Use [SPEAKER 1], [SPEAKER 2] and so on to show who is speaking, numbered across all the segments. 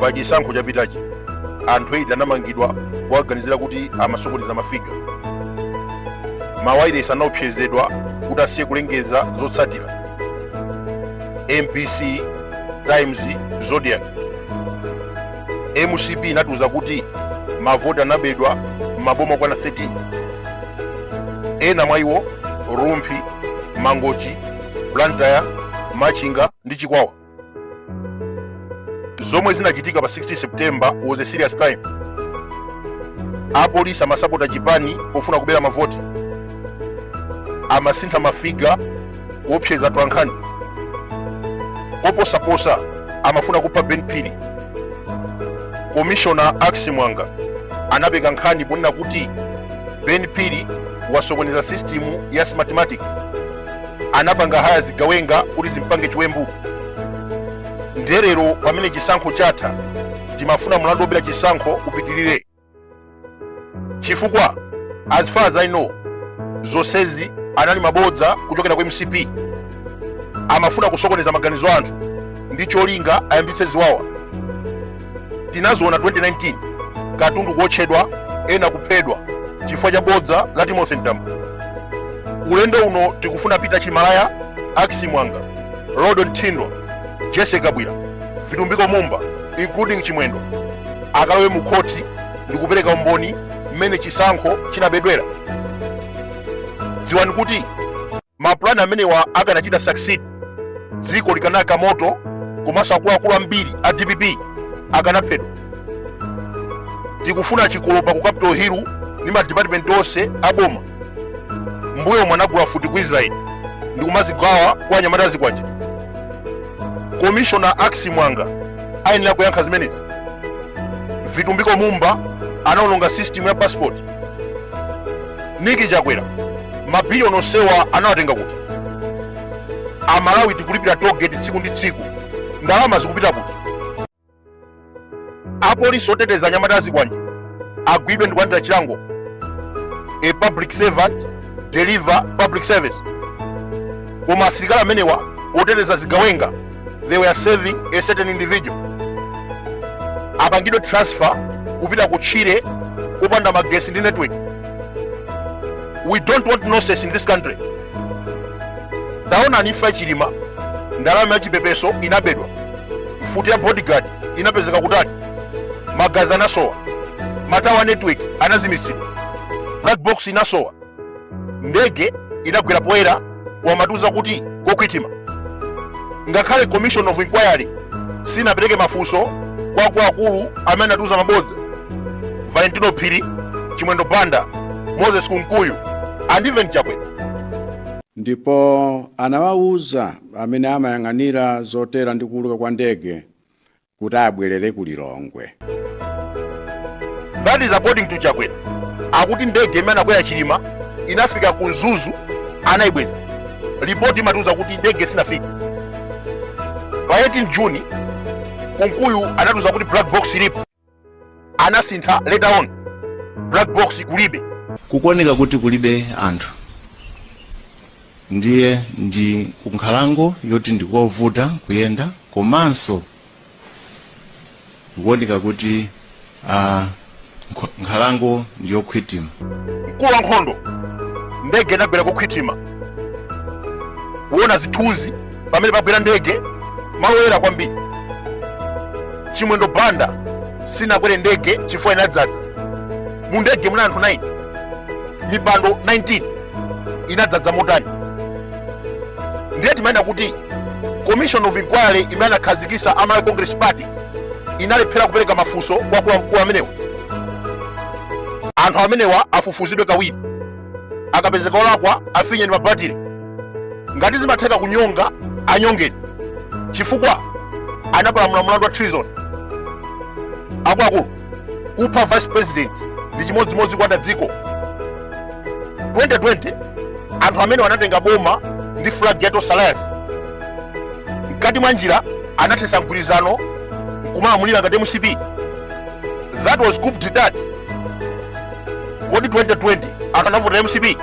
[SPEAKER 1] pa chisankho chapitachi anthu 8 anamangidwa kuwaganizira kuti amasokoneza mafiga mawailesi anaopsezedwa kuti asiye kulengeza zotsatira mbc times zodiak mcp inatiuza kuti mavoti anabedwa m'maboma okwana 13 ena mwa iwo rumphi mangochi blantyre machinga ndi chikwawa zomwe zinachitika pa 16 september was a serious crime apolisi amasapota chipani pofuna kubera mavoti amasintha mafiga kuopseza atolankhani koposaposa amafuna kupha ben phiri komishona ackis muwanga anapeka nkhani ponena kuti ben phiri wasokoneza sistimu ya smartmatic anapanga haya zigawenga kuti zimpange chiwembu ndiye lero pamene chisankho chatha timafuna mlandu wobera chisankho upitirire chifukwa as far as i know zonsezi anali mabodza kuchokera ku mcp amafuna kusokoneza maganizo a anthu ndi cholinga ayambitse ziwawa tinaziona 2019 katundu kuotchedwa ena kuphedwa chifukwa cha bodza la timothy mtambo ulendo uno tikufuna peter chimalaya ackis muwanga rodon thindwa jessie kabwila vitumbiko mumba including chimwendo akalowe mu khoti ndi kupereka umboni mmene chisankho chinabedwera dziwani kuti mapulani amenewa akanachita succeed dziko likanayaka moto komanso akuluakulu ambiri a dpp akanaphedwa tikufuna chikolopa ku capital hill ndi madipatimenti onse a boma mbuyomu anagula mfuti ku israeli ndikumazigawa kwa anyamata azikwanje komishona ackis muwanga ayenera kuyankha zimenezi vitumbiko mumba anaononga system ya passport nick chakwera mabiliyoni onsewa anawatenga kuti amalawi tikulipira toll gate tsiku ndi tsiku ndalama zikupita kuti apolisi oteteza anyamata azikwanje agwidwe ndi kulandira chilango a public servant deliver public service koma asilikali amenewa oteteza zigawenga they were serving a certain individual apangidwe transfer kupita kutchire kupanda magesi ndi network we don't want nonsense in this country taonani imfa ya chilima ndalama ya chipepeso inabedwa mfuti ya bodyguard inapezeka kutali magazi anasowa matawa a network anazimitsidwa black box inasowa ndege inagwera poyera kumatiuza kuti kokhwitima ngakhale commission of inquiry sinapereke mafunso kwa akuluakulu amene anatiuza mabodza valentino phiri chimwendo banda moses kunkuyu and even chakwera ndipo
[SPEAKER 2] anawawuza amene amayang'anira zotera ndi kuuluka kwa ndege kuti abwerere ku Lilongwe.
[SPEAKER 1] That is according to Chakwera. Akuti ndege imene anakwera Chilima inafika ku Mzuzu anaibweza. Ripoti imatiuza kuti ndege sinafika. Pa 18 June Kunkuyu anatiuza kuti black box ilipo. anasintha later on black box kulibe kukuoneka
[SPEAKER 3] kuti kulibe anthu ndiye ndi kunkhalango yoti ndikovuta kuyenda komanso ikuoneka kuti nkhalango ndiyokhwitima mkulu wa
[SPEAKER 1] nkhondo ndege inagwera kokhwitima kuona zithunzi pamene pagwera ndege malo oyera kwambiri chimwendo banda sindinakwere ndege chifukwa inadzadza mu ndege munali anthu 9 mipando 19 inadzadza motani ndiye timanena kuti commission of inquiry imene anakhazikisa a Malawi congress party inalephera kupereka mafunso kwa akuluakulu amenewa anthu amenewa afufuzidwe kawiri akapezeka olakwa afinyeni mabatire ngati zimatheka kunyonga anyongeni chifukwa anapalamula mlandu wa treason akuluakulu kupha vice president ndi chimodzimodzi kulanda dziko 2020 anthu amene anatenga boma ndi flag ya Tonse Alliance mkati mwa njira anathesa mgwirizano nkumalamulira ngati mcp that was coup d'etat kodi
[SPEAKER 4] 2020 akanavota
[SPEAKER 1] mcp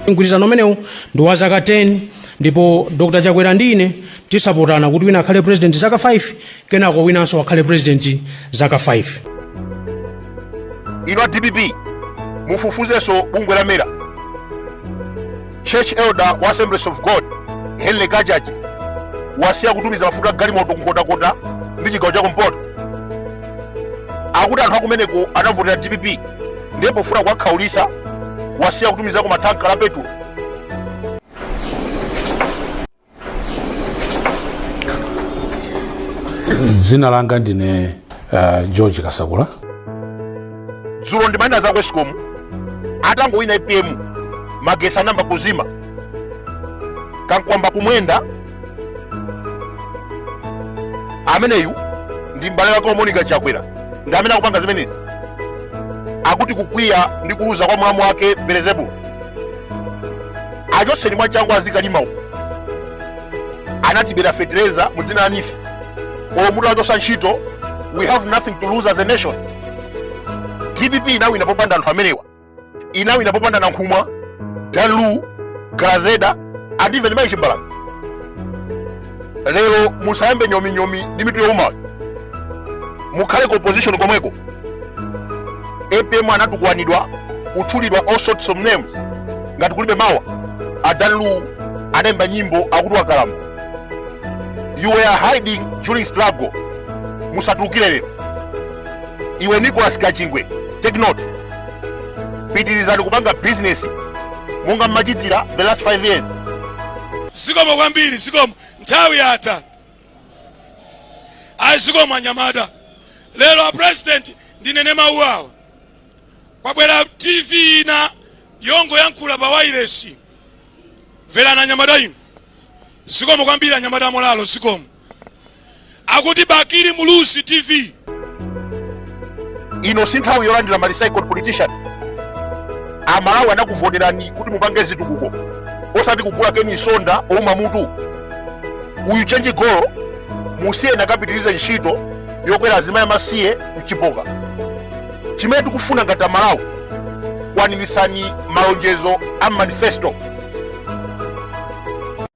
[SPEAKER 4] mgwirizano umenewu ndi
[SPEAKER 1] wa zaka 10
[SPEAKER 4] ndipo dr chakwera ndi ine tizasapotana kuti wina akhale president zaka 5 kenako winanso akhale president zaka
[SPEAKER 1] 5 ino a dpp mufufuzenso bungwe la mera church elder wa assemblies of god henry kachaje wasiya kutumiza mafuta agalimoto kunkhotakota ndi chigawo cha kumpoto akuti anthu akumeneko anavotera dpp ndi pofuna kuwakhaulisa wasiya kutumizako mathanka a petulo
[SPEAKER 5] dzina langa ndine uh, george
[SPEAKER 1] kasakula dzulo ndimanena za ku escom atangowina apm magesi anayamba kuzima kankwamba kumwenda ameneyu ndi m'bale wake wa monica chakwera ndi amene akupanga zimenezi akuti kukwiya ndi kuluza kwa mlamu wake berezebulo achotseni mwachangu azikalima uko anatibera fetereza mu dzina la neef olo mutawachotsa ntchito we have nothing to lose as a nation dpp inawina popanda anthu amenewa inawina popanda nankhumwa dan lu grezelder and even mai chimbalanga lero musayambe nyominyomi ndi mitu yowumayo mukhale ku opposition komweko apm anatukwanidwa kutchulidwa all sorts of names ngati kulibe mawa adan lu anayimba nyimbo akuti wakalamba you were hiding during struggle musatulukire lero iwe nicholas kachingwe take note pitirizani kupanga bizinesi monga mmachitira the last 5 years Zikomo
[SPEAKER 6] kwambiri, zikomo. Nthawi yatha. Ayi, zikomo anyamata. Lero a president ndinene mawu awa. Kwabwera TV ina yongoyankhula pa wailesi. Mverani anyamata inu. Zikomo kwambiri anyamata amolalo, zikomo. akuti bakili muluzi
[SPEAKER 1] tv ino si nthawi yolandira ma recycled politician amalawi anakuvoterani kuti mupange zitukuko osati kugula ken msonda ouma mutu uyu chenji golo musiyeni akapitirize ntchito yokwera azimayi amasiye mchipoka chimene tikufuna ngati amalawi kwaniritsani malonjezo a manifesto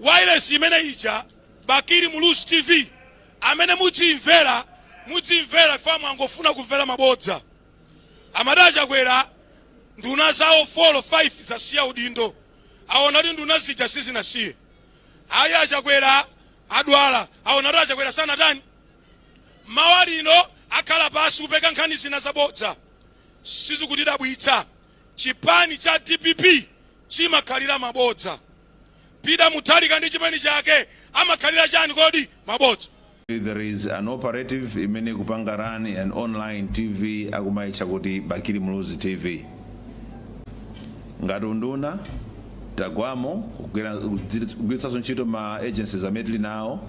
[SPEAKER 6] wailesi imene ija bakili muluzi tv amene mudzimvera mudzimvera ife mukungofuna kumvera mabodza amati achakwera nduna zawo 4 or 5 zasiya udindo aona kuti nduna zija sizinasiye ayi achakwera adwala aona kuti achakwera sanatani Mawa lino akhala pansi kupeka nkhani zina zabodza. Sizikutidabwitsa, chipani cha dpp chimakhalira mabodza. Peter Mutharika ndi chipani chake amakhalira chani kodi? Mabodza. There
[SPEAKER 7] is an operative imene ikupanga run an online TV akumaitcha kuti Bakili Muluzi TV. Ngati unduna tagwamo kugwiritsanso ntchito ma agencies amene tili nawo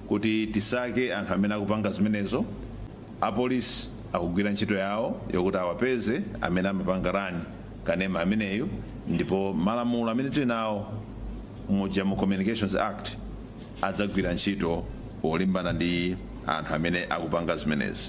[SPEAKER 7] Kuti tisake anthu amene akupanga zimenezo, apolisi akugwira ntchito yawo yokuti awapeze amene amapanga run kanema ameneyu ndipo malamulo amene tili nawo muja mu Communications Act adzagwira ntchito yolimbana ndi anthu amene akupanga zimenezi.